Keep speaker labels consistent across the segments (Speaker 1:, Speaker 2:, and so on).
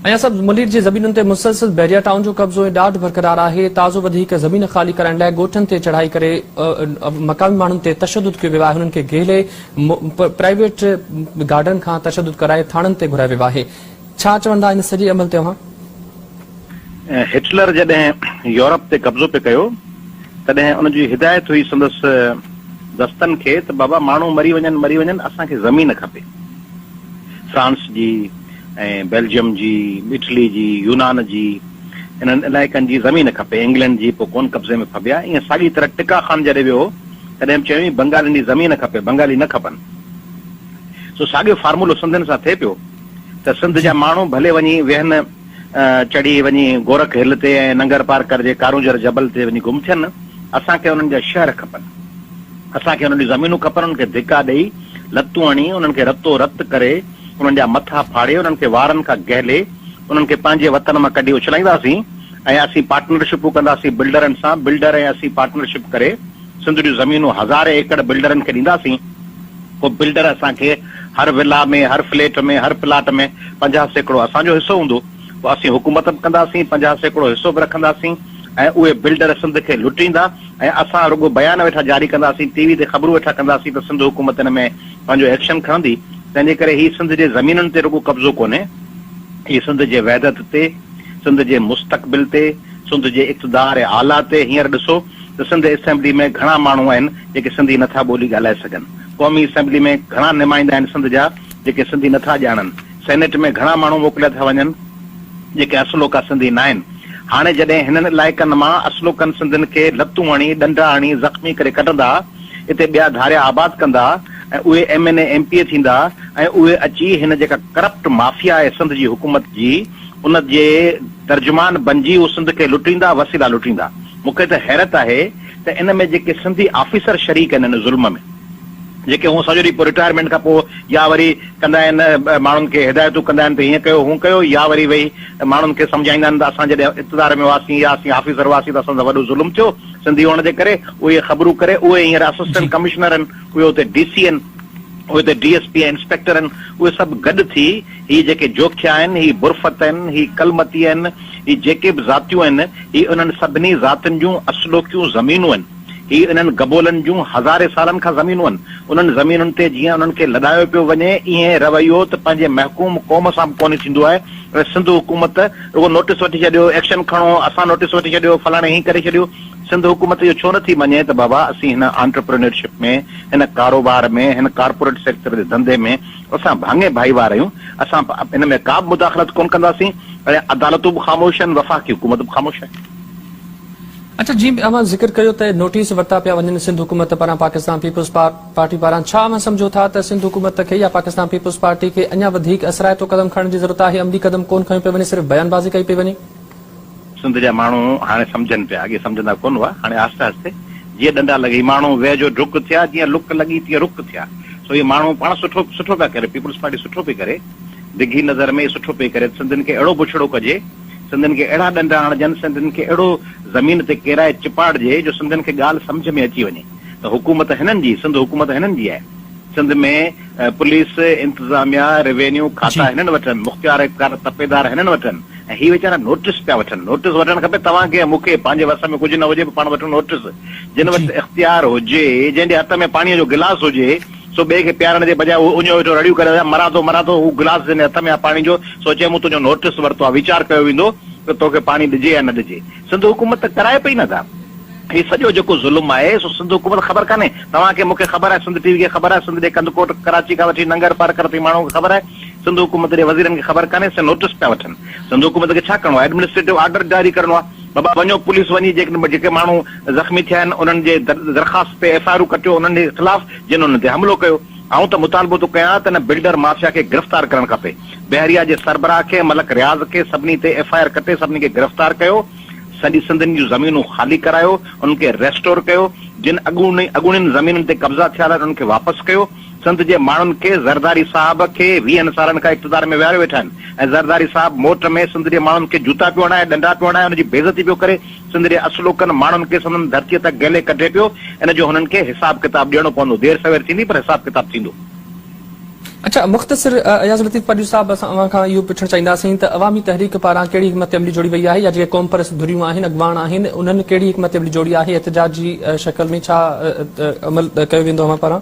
Speaker 1: اڃا سبز ملير جي زمينن تي مسلسل بحريا ٽائون جو قبضو ۽ ڏاڍ برقرار آهي، تازو وڌيڪ زمين خالي ڪرائڻ لاء ڳوٺن تي چڙهائي ڪري مقامي ماڻهن تي تشدد ڪيو ويو آهي، انهن کي گهيلي پرائيويٽ گارڊن کان تشدد ڪرائي ٿاڻن تي گهرايو ويو آهي، ڇا چوندا ان سڄي عمل تي اوهان؟ هٽلر
Speaker 2: جڏهن يورپ تي قبضو پئي ڪيو تڏهن ان جي هدايت هئي سندس دستن کي ته بابا ماڻهو مري وڃن مري وڃن اسان کي زمين کپي فرانس جي، ۽ بيلجيم جي، اٽلي جي، يونان جي انهن علائقن جي زمين کپي، انگلينڊ جي پوء ڪون قبضي ۾ ڦٻيا، ائين ساڳي طرح ٽڪا خان جڏهن ويو هو تڏهن به چيائين بنگالين جي زمين کپي، بنگالي نه کپن، سو ساڳيو فارمولو سنڌين سان ٿئي پيو ته سنڌ جا ماڻهو ڀلي وڃي ويهن چڙهي وڃي گورک هل تي ۽ ننگر پارڪر جي ڪارونجهر جبل تي وڃي گم ٿين، اسان کي انهن جا شهر کپن، اسان کي انهن جون زمينون کپن، انهن کي ڌڪا ڏئي، لتون هڻي، انهن کي رتو رت ڪري، انهن جا مٿا ڦاڙي، انهن کي وارن کان گهلي، انهن کي پنهنجي وطن مان ڪڍي اڇلائينداسين ۽ اسين پارٽنرشپون ڪنداسين بلڊرن سان، بلڊر ۽ اسين پارٽنرشپ ڪري سنڌ جون زمينون هزارين ايڪڙ بلڊرن کي ڏينداسين، پوء بلڊر اسان کي هر ولا ۾ هر فليٽ ۾ هر پلاٽ ۾ پنجاهه سيڪڙو اسان جو حصو هوندو، پوء اسين حڪومت به ڪنداسين، پنجاهه سيڪڙو حصو به رکنداسين ۽ اهي بلڊر سنڌ کي لٽيندا ۽ اسان رڳو بيان ويٺا جاري ڪنداسين، ٽي وي تي خبرون ويٺا ڪنداسين ته سنڌ حڪومت ان ۾ پنهنجو ايڪشن کڻندي، تنهن جي ڪري هي سنڌ جي زمينن تي رڳو قبضو ڪونهي، هي سنڌ جي وحدت تي، سنڌ جي مستقبل تي، سنڌ جي اقتدار اعليٰ تي هينئر ڏسو ته سنڌ اسيمبلي ۾ گهڻا ماڻهو آهن جيڪي سنڌي نٿا ٻولي ڳالهائي سگهن، قومي اسيمبلي ۾ گهڻا نمائندا آهن سنڌ جا جيڪي سنڌي نٿا ڄاڻن، سينيٽ ۾ گهڻا ماڻهو موڪليا ٿا وڃن جيڪي اصلوڪا سنڌي ناهن، هاڻي جڏهن هنن علائقن مان اصلوڪن سنڌين کي لتون هڻي، ڏنڊا هڻي زخمي ڪري ڪڍندا، اتي ٻيا ڌاريا آباد ڪندا ۽ اهي M N A M P A ٿيندا ۽ اهي اچي هن جيڪا ڪرپٽ مافيا آهي سنڌ جي حڪومت جي ان جي ترجمان بنجي هو سنڌ کي لٽيندا وسيلا لٽيندا مون کي ته حيرت آهي ته ان ۾ جيڪي سنڌي آفيسر شريڪ آهن ان ظلم ۾ جيڪي هونء سڄو ڏينهن پوء رٽائرمينٽ کان پوء يا وري ڪندا آهن ماڻهن کي هدايتون ڪندا آهن ته هيئن ڪيو هونء ڪيو يا وري ويهي ماڻهن کي سمجهائيندا آهن ته اسان جڏهن اقتدار ۾ هئاسين يا اسين آفيسر هئاسين ته اسان سان وڏو ظلم ٿيو سنڌي هئڻ جي ڪري اهي خبرون ڪري اهي هينئر اسسٽنٽ ڪمشنر آهن، اهي اتي ڊي سي آهن، اهي اتي ڊي ايس پي ۽ انسپيڪٽر آهن، اهي سڀ گڏ ٿي هي جيڪي جوکيا آهن، هي برفت آهن، هي ڪلمتي آهن، هي جيڪي به ذاتيون آهن، هي انهن سڀني ذاتين جون اصلوڪيون زمينون آهن، هي انهن گبولن جون هزارين سالن کان زمينون آهن، انهن زمينن تي جيئن انهن کي لڏايو پيو وڃي، ايئن رويو ته پنهنجي محڪوم قوم سان به ڪونهي ٿيندو آهي ۽ سنڌ حڪومت رڳو نوٽيس وٺي ڇڏيو، ايڪشن کڻو، اسان نوٽيس وٺي ڇڏيو، فلاڻي هيئن ڪري ڇڏيو، سنڌ حڪومت اهو ڇو نٿي مڃي ته بابا اسين هن آنٽرپرينيورشپ ۾ هن ڪاروبار ۾ هن ڪارپوريٽ سيڪٽر جي ڌنڌي ۾ اسان ڀاڱي ڀائيوار آهيون، اسان ان ۾ ڪابه مداخلت ڪونه ڪنداسين ۽ عدالتون به خاموش آهن، وفاقي حڪومت به خاموش آهي.
Speaker 1: اچا جيئن به اوهان ذڪر ڪيو ته نوٽيس ورتا پيا وڃن سنڌ حڪومت پاران پاڪستان پيپلز پار. پارٽي پاران ڇا اوهان سمجهو ٿا ته سنڌ حڪومت کي يا پاڪستان پيپلز پارٽي کي اڃا وڌيڪ اثرائتو قدم کڻڻ جي ضرورت آهي عملي قدم ڪون کنيو پيو وڃي صرف بيان بازي ڪئي پئي وڃي. سنڌ
Speaker 2: جا ماڻهو هاڻي سمجهن پيا اڳي سمجهندا ڪون هئا هاڻي آهستي آهستي جيئن ڏنڊا لڳي ماڻهو ويهه جو ڊڪ ٿيا جيئن لڪ لڳي تيئن رڪ ٿيا سو اهي ماڻهو پاڻ سٺو سٺو پيا ڪري پيپلز پارٽي سٺو پئي ڪري ڊگهي نظر ۾ سٺو پئي ڪري سنڌين کي اهڙو بڇڙو ڪجي سنڌين کي اهڙا ڏنڊا هڻجن سنڌين کي اهڙو زمين تي ڪيرائي چپاڙجي جو سنڌين کي ڳالهه سمجهه ۾ اچي وڃي. ته حڪومت هنن جي سنڌ حڪومت هنن جي آهي سنڌ ۾ پوليس انتظاميا روينيو کاتا هنن وٽ آهن مختيار اختيار تپيدار هنن وٽ آهن ۽ هي ويچارا نوٽس پيا وٺن نوٽس وٺڻ کپي توهان کي ۽ مون کي پنهنجي وس ۾ ڪجهه نه هجي پاڻ وٺون نوٽس جن وٽ اختيار هجي جنهن جي هٿ ۾ پاڻي جو گلاس هجي سو ٻئي کي پيارڻ جي بجاء هو اڃيو ويٺو رڙيون ڪري رهيو آهي مران ٿو مران ٿو هو گلاس جنهن جي هٿ ۾ آهي پاڻي جو سوچي مون تنهنجو نوٽس ورتو آهي ويچار ڪيو ويندو ته توکي پاڻي ڏجي يا نه ڏجي سنڌ حڪومت ته ڪرائي پئي نه ڌا. هي سڄو جيڪو ظلم آهي سو سنڌ حڪومت خبر ڪانهي توهان کي مون کي خبر آهي سنڌ ٽي وي کي خبر آهي سنڌ ڏي ڪنڌڪوٽ ڪراچي کان وٺي ننگر پرڪر تائين ماڻهو کي خبر آهي سنڌ حڪومت ڏي وزيرن کي خبر ڪانهي سي نوٽس پيا وٺن سنڌ حڪومت کي ڇا ڪرڻو آهي ايڊمنسٽريٽو آرڊر جاري ڪرڻو آهي بابا وڃو پوليس وڃي جيڪڏهن جيڪي ماڻهو زخمي ٿيا آهن انهن جي درخواست تي ايف آء آرون ڪٽيو انهن جي خلاف جن انهن تي حملو ڪيو آئون ته مطالبو ٿو ڪيان ته ان بلڊر مافيا کي گرفتار ڪرڻ کپي. بحريه جي سربراهه کي ملڪ رياض کي سڀني تي ايف آء آر ڪٽي سڀني کي گرفتار ڪيو سڄي سنڌ جون زمينون خالي ڪرايو انهن کي ريسٽور ڪيو جن اڳوڻي اڳوڻين زمينن تي قبضا ٿيل آهن انهن کي واپس ڪيو سنڌ جي ماڻهن کي زرداري صاحب کي ويهن سالن کان اقتدار ۾ ويهاريو ويٺا آهن ۽ زرداري صاحب موٽ ۾ سنڌ جي ماڻهن کي جوتا پيو هڻائي ڏنڊا پيو هڻائي انهن جي بيعزتي پيو ڪري سنڌ جي اصلوڪن ماڻهن کي سندن ڌرتي تان گهلي ڪڍي پيو ان جو هنن کي حساب ڪتاب ڏيڻو پوندو دير سوير ٿيندي پر حساب ڪتاب ٿيندو. اچا
Speaker 1: مختصر اياز لطيف پاڏيو صاحب اسان اوهان کان اهو پڇڻ چاهينداسين ته عوامي تحريڪ پاران ڪهڙي حڪمت عملي جوڙي وئي آهي يا جيڪي قومپرست ڌريون آهن اڳواڻ آهن انهن ڪهڙي حڪمت عملي جوڙي آهي احتجاج جي شڪل ۾ ڇا عمل ڪيو ويندو اوهان پاران.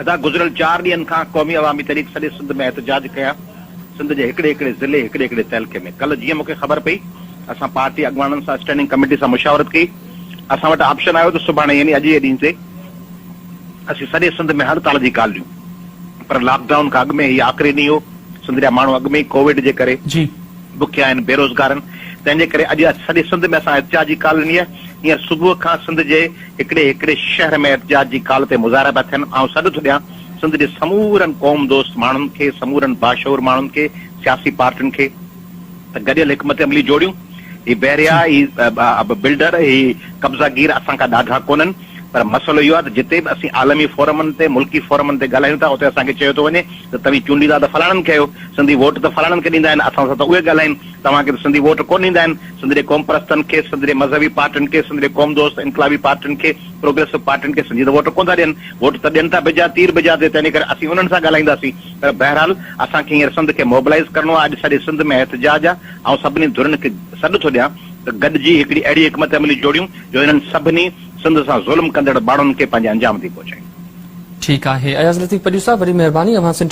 Speaker 2: ادا گذريل چار ڏينهن کان قومي عوامي تحريڪ سڄي سنڌ ۾ احتجاج ڪيا سنڌ جي هڪڙي هڪڙي ضلعي هڪڙي هڪڙي تعلقي ۾ ڪل جيئن مونکي خبر پئي اسان پارٽي اڳواڻن سان اسٽينڊنگ ڪميٽي سان مشاورت ڪئي اسان وٽ آپشن آيو ته سڀاڻي يعني اڄ جي ڏينهن تي اسين سڄي سنڌ ۾ هر سال جي ڳالهه ڏيون پر لاڪ ڊائون کان اڳ ۾ هي آخري ڏينهن هو، سنڌ جا ماڻهو اڳ ۾ ئي ڪووڊ جي ڪري بکيا آهن، بيروزگار آهن، تنهن جي ڪري اڄ سڄي سنڌ ۾ اسان احتجاج جي ڪال ڏني آهي، هينئر صبح کان سنڌ جي هڪڙي هڪڙي شهر ۾ احتجاج جي ڪال تي مظاهرا پيا ٿين، آئون سڏ ٿو ڏيان سنڌ جي سمورن قوم دوست ماڻهن کي، سمورن باشعور ماڻهن کي، سياسي پارٽين کي. ته گڏيل حڪمت عملي جوڙيون، هي بحريا، هي بلڊر، هي قبضا گير اسان کان ڏاڍا ڪونهن، پر مسئلو اهو آهي ته جتي به اسين عالمي فورمن تي، ملڪي فورمن تي ڳالهايون ٿا، اتي اسان کي چيو ٿو وڃي ته توهين چونڊيندا ته فلاڻن کي آهيو، سنڌي ووٽ ته فلاڻن کي ڏيندا آهن، اسان سان ته اهي ڳالهائين، توهان کي ته سنڌي ووٽ ڪونه ڏيندا آهن، سندري قومپرستن کي، سندري مذهبي پارٽين کي، سندري قومدوست انقلابي پارٽين کي، پروگريسو پارٽين کي سنڌي ته ووٽ ڪونه ٿا ڏين، ووٽ ته ڏين ٿا بجا تير بجا تي، تنهنجي ڪري اسين انهن سان ڳالهائينداسين. پر بهرحال اسان کي هينئر سنڌ کي موبلائيز ڪرڻو آهي، اڄ سڄي سنڌ ۾ احتجاج آهي، آئون سڀني ڌرين کي سڏ ٿو ڏيان ته گڏجي هڪڙي اهڙي حڪمت عملي جوڙيون جو هنن سڀني سنڌ سان ظلم ڪندڙ ٻاڙن کي
Speaker 1: پنهنجي
Speaker 2: انجام
Speaker 1: تي
Speaker 2: پهچايون. ٺيڪ
Speaker 1: آهي اياز لطيف
Speaker 2: پڄو
Speaker 1: صاحب
Speaker 2: وري
Speaker 1: مهرباني
Speaker 2: اوهان
Speaker 1: سنڌ.